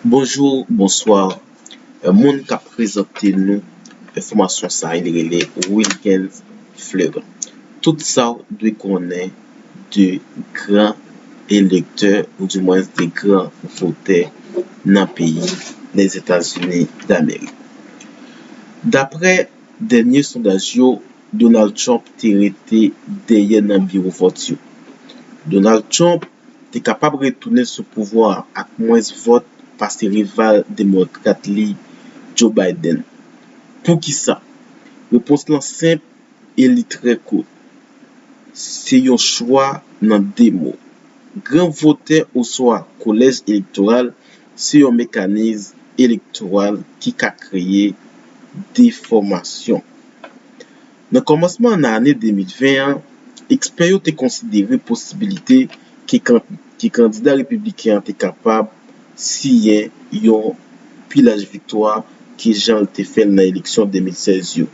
Bonjour bonsoir moun kap prezante nou enfòmasyon sa li rele Wilguens Fleurin tout sa ou dwe konnen de gran elektè ou di mwens de gran votè nan peyi Lèzetazini Damerik daprè dènye sondaj yo Donald Trump te rete dèyè nan biwo vòt yo Donald Trump te kapab retounen sou pouvwa a ak mwens vòt pase rival demokrat li Joe Biden. Poukisa? Repons lan senp e li trè kout, Se yon chwa nan 2 mo. Gran votè oswa kolèj elektoral se yon mekanis elektoral ki ka kreye defòmasyon. Nan kòmansman nan ane 2020 an, ekspè yo te konsidere posibilite ke kandida repibliken an te kapab siyen yon pi laj viktwa ke jan l te fè l nan eleksyon 2016 yo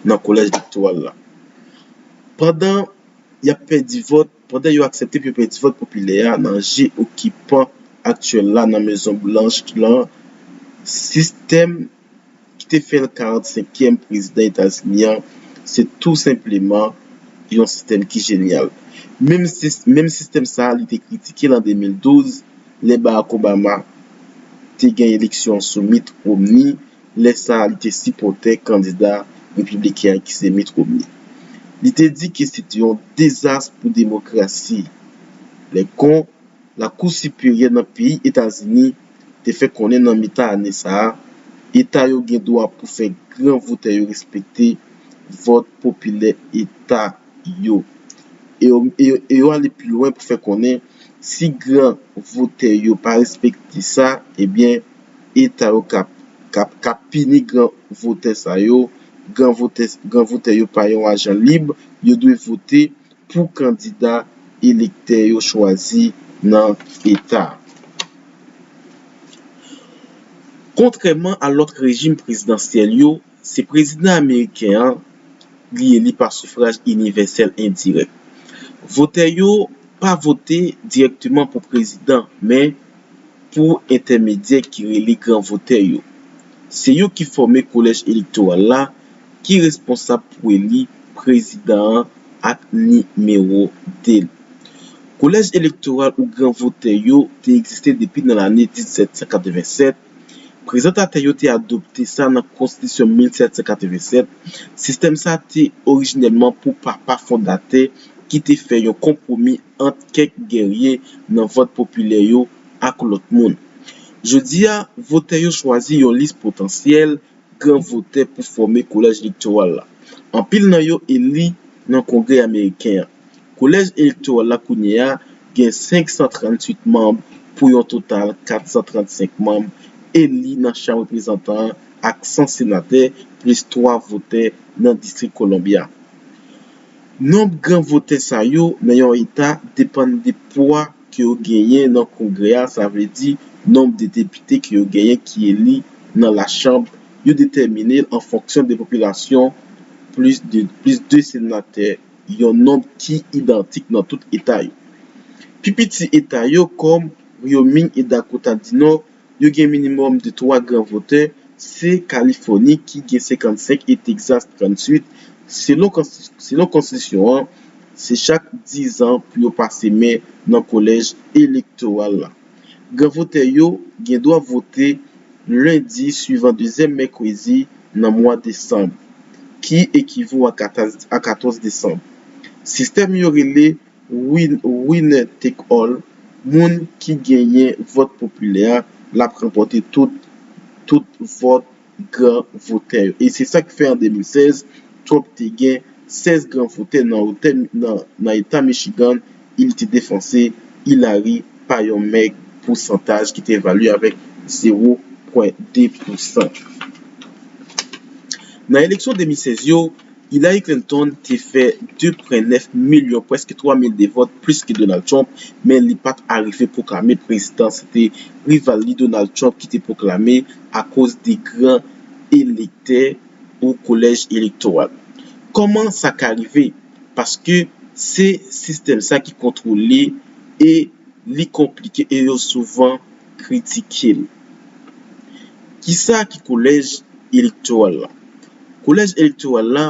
nan Kolèj elektoral la pandan y ap pèdi vòt. Pandan yo aksepte pou yo pèdi vòt popilè a nan je okipan aktyèl la nan Mezon Blanch lan, sistèm ki te fè l 45 kièm prezidan Etazini an se tou senpleman yon sistèm ki jenyal. Menm sistèm sa a li te kritike l an 2012 lè Barack Obama te gen eleksyon sou Mitt Romney, lè sa a li te sipòtè kandida repibliken an ki se Mitt Romney. Li te di ke se te yon dezas pou demokrasi lè kon Lakou Siperyè nan peyi Etazini te fè konnen nan mitan ane sa a eta yo gen dwa pou fè gran votè yo respekte vòt popilè eta yo e yo ale pi lwen pou fè konnen si gran votè yo pa respekte sa ebyen eta yo kap kap kap pini gran votè sa yo gran votè gran votè yo pa yon ajan lib yo dwe vote pou kandida elektè yo chwazi nan eta a. Kontrèman a lòt rejim prezidansyèl yo, Se prezidan ameriken an li eli pa sufraj inivèsèl endirèk. Votè yo pa vote dirèkteman pou prezidan men pou entèmedyè ki rele gran votè yo. Se yo ki fòme kolèj elektoral la ki responsab pou eli prezidan an ak nimewo 2 l. Kolèj elektoral ou gran votè yo te egziste depi nan lane 1787, Prezantatè yo te adopte sa nan Konstitisyon 1787, sistèm sa te orijinèlman pou papa fondatè ki te fè yon konpwomi ant kèk gèrye nan vòt popilè yo ak lòt moun. Jodi a, votè yo chwazi yon lis potansyèl gran votè pou fòme Kolèj Elektoral la. Anpil nan yo eli nan Kongrè Ameriken an. Kolèj elektoral la kounye a gen 538 manm pou yon total 435 manm eli nan Chanm Reprezantan an ak 100 senatè plis 3 votè nan Distrik Columbia. Nonb gran votè sa yo nan yon eta depann de pwa ke yo genyen nan Kongrè a sa vle di nonb de depite ke yo genyen ki eli nan lachanb yo detèmine l an fonksyon de popilasyon plis 2 senatè yon nonb ki idantik nan tout eta yo. Pi piti eta yo, kòm Wyoming e Dakota di Nò, yo gen minimòm de twa gran votè, se Kalifòni ki gen 55 e Texas 38, selon konstitisyon an, se chak dizan pou yo pase men nan kolèj elektoral la. Gran votè yo gen dwa vote lendi suivan dezyèm mèkredi nan mwa desanm, ki ekivo a 14 desanm. Sistèm yo rele Winner Take All, moun ki genyen vòt popilè a l ap ranpòte tout vòt gran votè yo. E se sa k fè an 2016, Trump te gen 16 gran votè nan eta Michigan, e li te defanse Hillary pa yon mèg pousantaj ki te evalye avèk 0 pwen 2 pousan. Nan eleksyon 2016 yo, Hillary Clinton te fè 2 pwen 9 milyon, prèske 3 mil de vòt plis ke Donald Trump, men li pat arive pwoklame prezidan, se te rival li Donald Trump ki te pwoklame akoz de gran elektè ou kolèj elektoral. Kòman sa ka rive? Paske se sistèm sa ki kontwole e li konplike e yo souvan kritike l. Kisa ki kolèj elektoral la? Kolèj elektoral la,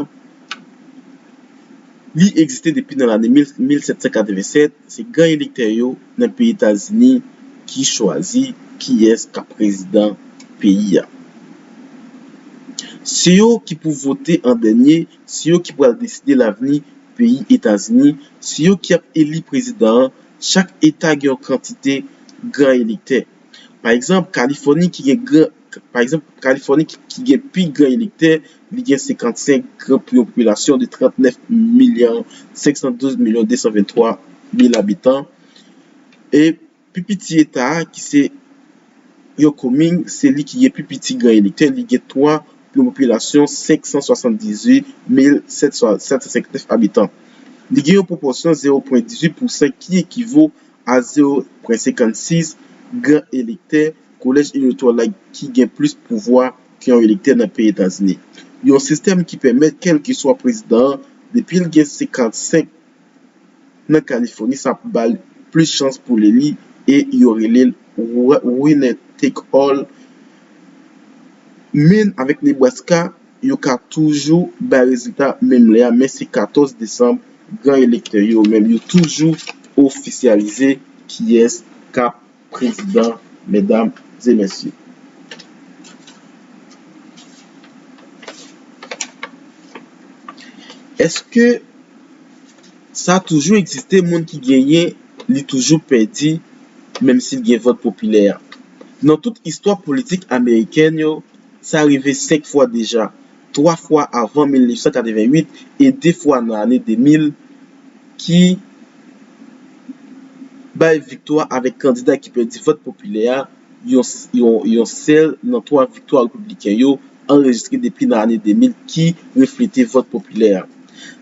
li egziste depi nan lane 1787, se gran elektè yo nan peyi Etazini ki chwazi kiyès k ap prezidan peyi a. Se yo ki pou vote an dènye, se yo ki pral deside lavni peyi Etazini, se yo ki ap eli prezidan an. Chak eta gen yon kantite gran elektè. Pa egzanp, Kalifòni ki gen gran, pa egzanp, Kalifòni ki gen pi gran elektè, li gen 55 gran pou yon popilasyon de 39 milyon 512 milyon 223 mil abitan, e pi piti eta a ki se. Yo Kuming se li ki gen pi piti gran elektè, li gen 3 pou yon popilasyon 578,759 abitan. Li gen yon pwopòsyon 0,18 pousan ki ekivo a 0,56 gran elektè kolèj elektwòl la ki gen plis pouvwa ke yon elektè nan peyi Etazini. Yon sistèm ki pèmèt kèlkeswa prezidan an depi l gen 55 nan Kalifòni sa ap ba l plis chans pou l eli e yo rele l winner take all men avèk Nebraska yo ka toujou bay rezilta menm lè a men se 14 desanm gran elektè yo menm yo toujou ofisyalize kiyès k ap Prezidan, Medam e Mesye. Eske sa toujou egziste moun ki genyen li toujou pèdi menm si l gen vòt popilè a? Nan tout istwa politik amerikèn yo, sa rive 5 fwa deja, 3 fwa avan 1988 e 2 fwa nan ane 2000, ki bay viktwa avèk kandida ki pèdi vòt popilè a, yon sèl nan twa viktwa repibliken yo anrejistre depi nan ane 2000 ki reflete vòt popilè a.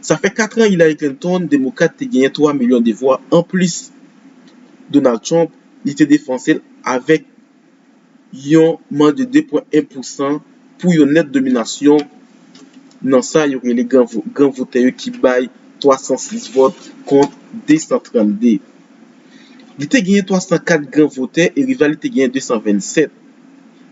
Sa fè katran Hillary Clinton, Demokrat, te genyen twa milyon de vwa anplis Donald Trump, li te defanse l avèk. yon man de 2 pwen 1 pousan pou yon nèt dominasyon nan sa yo rele gran votè yo ki bay 306 vòt kont 232. Li te genyen 304 gran votè e rival li te genyen 227.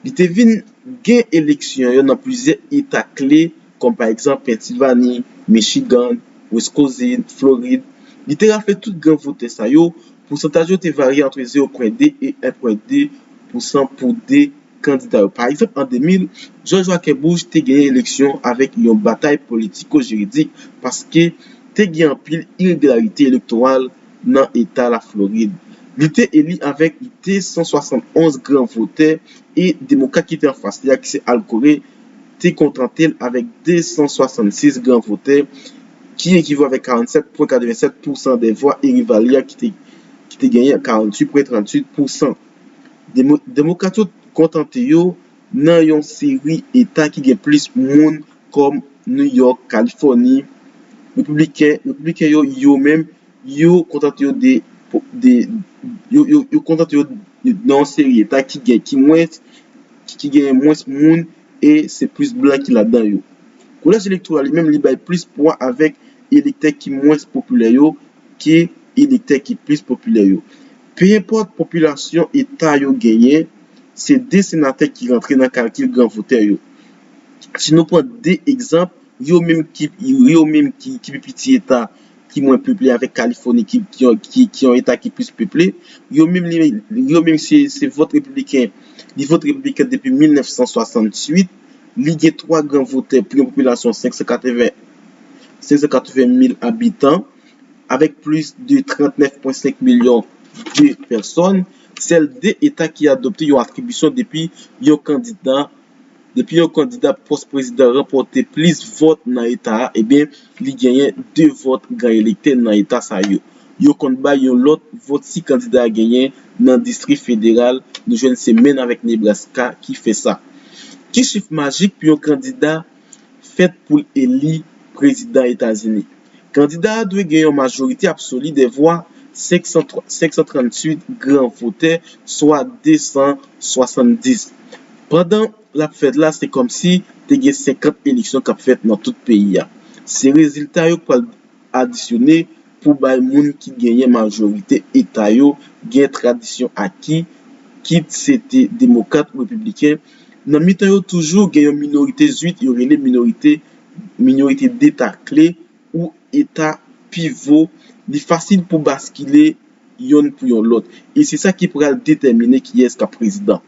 Li te vin gen eleksyon yo nan plizyè eta kle. kòm pa egzanp Pennsilvani, Michigan, Wiskozin, Florid, li te rafle tout gran votè sa yo, pousantaj yo te varye antre 0 pwen 2 e 1 pwen 2 pousan pou 2 kandida yo. Pa egzanp an 2000, Jòj Waken Bush te genyen eleksyon avèk yon batay politiko-jiridik paske te gen anpil iregilarite elektoral nan eta Laflorid. Li te eli avèk 271 gran votè e Demokrat ki te anfas li a ki se Al Gore, te kontante l avèk 266 gran votè, ki ekivo avèk 47 pwen 87 pousan de vwa Eri Valya ki te genyen 48 pwen 38 pousan. Demokrat yo kontante yo nan yon seri eta ki gen plis moun kòm New York, Kalifòni, Repibliken yo yo menm Yo kontante yo de yo kontante yo nan yon seri eta ki gen ki mwens ki genyen mwens moun e se plis blan ki ladan yo. Kolèj elektoral li menm li bay plis pwa avèk elektè ki mwens popilè yo ke elektè ki plis popilè yo. Penyenpòt popilasyon eta yo genyen, se 2 senatè ki rantre nan kalkil gran votè yo. Si nou pran 2 egzanp. yo menm ki yo menm ki pi piti eta ki mwen peple avèk kalifòni ki ki yon eta ki plis peple yo menm li yo menm se se vòt repibliken li vote repibliken depi 1968 li gen 3 gran votè pou yon popilasyon 580 580 mil abitan avèk plis de 39,5 milyon de pèsòn sèl 2 eta ki adopte yon atribisyon depi yon kandida Depi yon kandida pou pòs prezidan ranpòte plis vòt nan eta a, ebyen li genyen 2 vòt gran elektè nan eta sa yo. Yo konn bay yon lòt vòt si kandida a genyen nan distri federal, nou jwenn se Maine avèk Nebraska ki fè sa. Ki chif majik pou yon kandida fèt pou l eli prezidan Etazini? Kandida a dwe gen yon majorite absoli dè vwa 538 gran votè, swa 270. Pandan l ap fèt la, se kòmsi te gen 50 eleksyon k ap fèt nan tout peyi a. Se rezilta yo k pral adisyone pou bay moun ki genyen majorite eta yo gen tradisyon aki, kit se te demokrat ou repibliken. Nan mitan yo toujou gen yon minorite zwit yo rele minorite minorite deta kle ou eta pivo li fasil pou baskile yonn pou yon lòt e se sa ki pral detèmine kiyès k ap prezidan.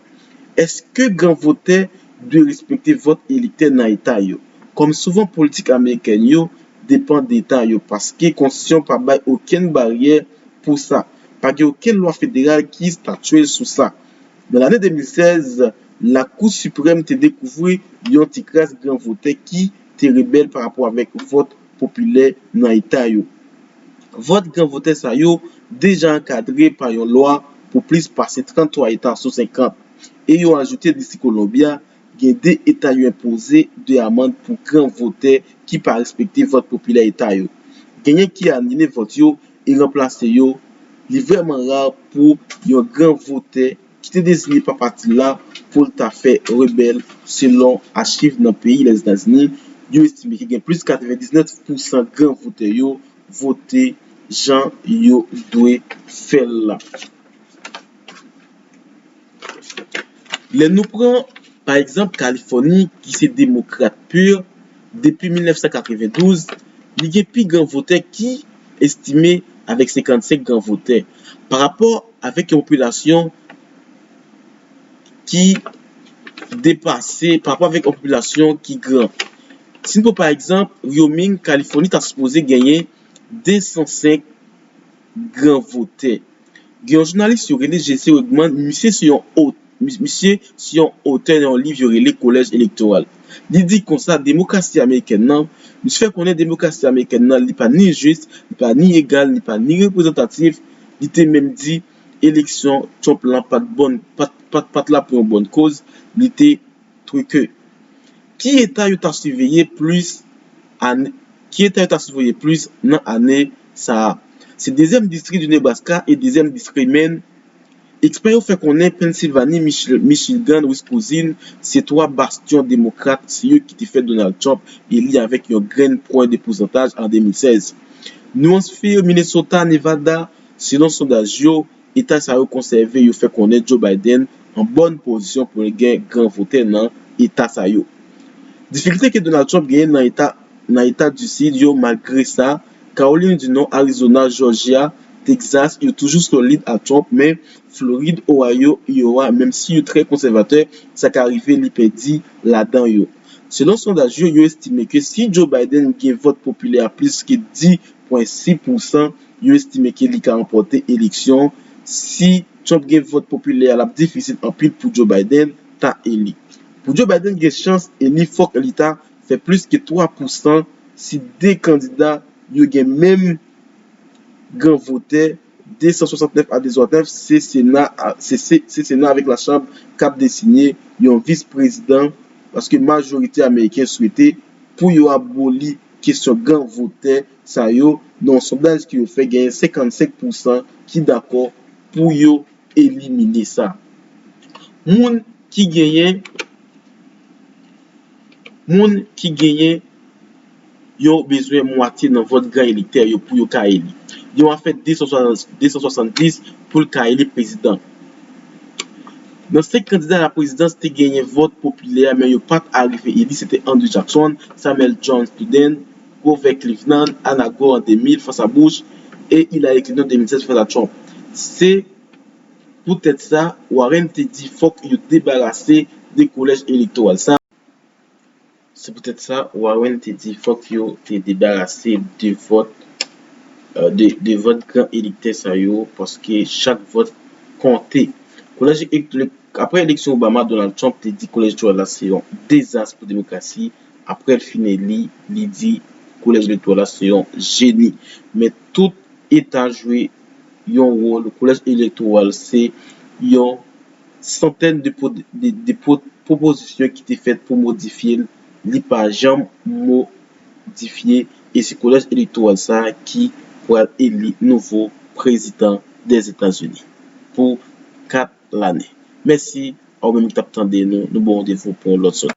Èske gran votè dwe respekte vòt elektè nan eta yo? Kòm souvan politik amerikèn yo depan de eta yo paske konstitisyon pa bay okenn baryè pou sa, pa gen okenn lwa federal ki estatye sou sa. Nan lane 2016, Lakou Siprèm te dekouvri yon ti kras gran votè ki te rebèl pa rapò avèk vòt popilè nan eta yo. Vòt gran votè sa yo deja ankadre pa yon lwa pou plis pase 33 eta sou 50, e yo ajoute Distri Kolonbya Gen 2 eta yo enpoze 2 amand pou gran votè ki pa respekte vòt popilè eta yo. Genyen ki anile vòt yo e ranplase yo. Li vrèman rar pou yon gran votè ki te dezinye pa pati l la pou l ta fè rebèl selon achiv nan peyi Lèzetazini yo estime ki gen plis 99 pou san gran votè yo vote jan yo dwe fè l la. Lè nou pran, pa egzanp, Kalifòni, ki se demokrat pur, depi 1992, li gen pi gran votè ki, estime avèk 55 gran votè, pa rapò avèk yon popilasyon ki depase, pa rapò avèk yon popilasyon ki gran. Si nou pran, pa egzanp, Wyoming, Kalifòni ta sipoze genyen 205. gran votè. Gen yon jounalis yo rele Jesse Wegman, misye se yon o, misye se yon otè nan yon liv yo rele Kolèj Elektoral. Li di konsa demokrasi amerikèn nan, misye fè konnen demokrasi amerikèn nan li pa ni jis, li pa ni egal, li pa ni reprezantatif, li te menm di eleksyon Trump lan pat bon, pat la pou yon bòn koz, li te truqué. Ki eta yo ta siveye plis ane Ki eta yo ta siveye plis nan ane sa a? Se dezyèm distri di Nebraska e dezyèm distri Menn. Ekspè yo fè konnen Pennsilvani, Michigan, Wiskousin se twa bastyon demokrat, se yo ki te fè Donald Trump eli avèk yon grenn pwen de pousantaj an 2016. Nwans fir Minnesota, Nevada, selon sondaj yo, Eta sa yo konsève yo fè konnen Joe Biden an bòn pozisyon pou l gen gran votè nan eta sa yo. Difikilte ke Donald Trump genyen nan eta nan eta du Sid yo malgre sa, Kawolin du Nò, Arizona, Jòjya, Texas yo toujou solid ak Trump men Florid, Ohio, Iowa menm si yo trè konsèvatè sa ka rive li pèdi ladan yo. Selon sondaj yo, yo estime ke si Joe Biden gen vòt popilè a plis ke 10,6 pousan, Yo estime ke li ka ranpòte eleksyon si Trump gen vòt popilè a lap difisil anpil pou Joe Biden ta eli. Pou Joe Biden gen chans eli fòk li ta fè plis ke 3 pousan si 2 kandida yo gen menm gran votè 269 a 209 se sena a se sena avèk la chanb kap desinye yon vis prezidan paske majorite ameriken swete pou yo aboli kesyon gran votè sa yo nan yon sondaj ke yo fè genyen 55 pou san ki dakò pou yo elimine sa. Moun ki genyen moun ki genyen yo bezwen mwatye nan vòt gran elektè yo pou yo ka eli. Yon afè 270 pou l ka eli prezidan. Nan 5 kandida la prezidans te genyen vòt popilè men yo pat arive eli se te Andrew Jackson, Samuel Jones Piden, Grover Cleveland, Ana Gore an 2000 fas a Bush e Hillary Clinton 2016 fas a Trump. Se Pou tèt sa Warren te di fòk yo debarase de kolèj elektoral sa. Se Pou tèt sa Warren te di fòk yo te debarase de vòt, de vòt gran elektè sa yo paske chak vòt konte. Kolèj, apre eleksyon Obama, Donald Trump te di kolèj elektoral la se yon dezas pou demokrasi. Aprè l fin eli, li di Kolèj Elektoral la se yon jeni. Men tout eta jwe yon wòl, Kolèj Elektoral se yon santèn de pwopozisyon ki te fèt pou modifye l, li pa janm modifye e se Kolèj Elektoral sa a ki pral eli nouvo prezidan Dèzetazini pou 4 lane. Mèsi a ou menm ki t ap tande nou, nou ba w randevou pou yon lòt sòti.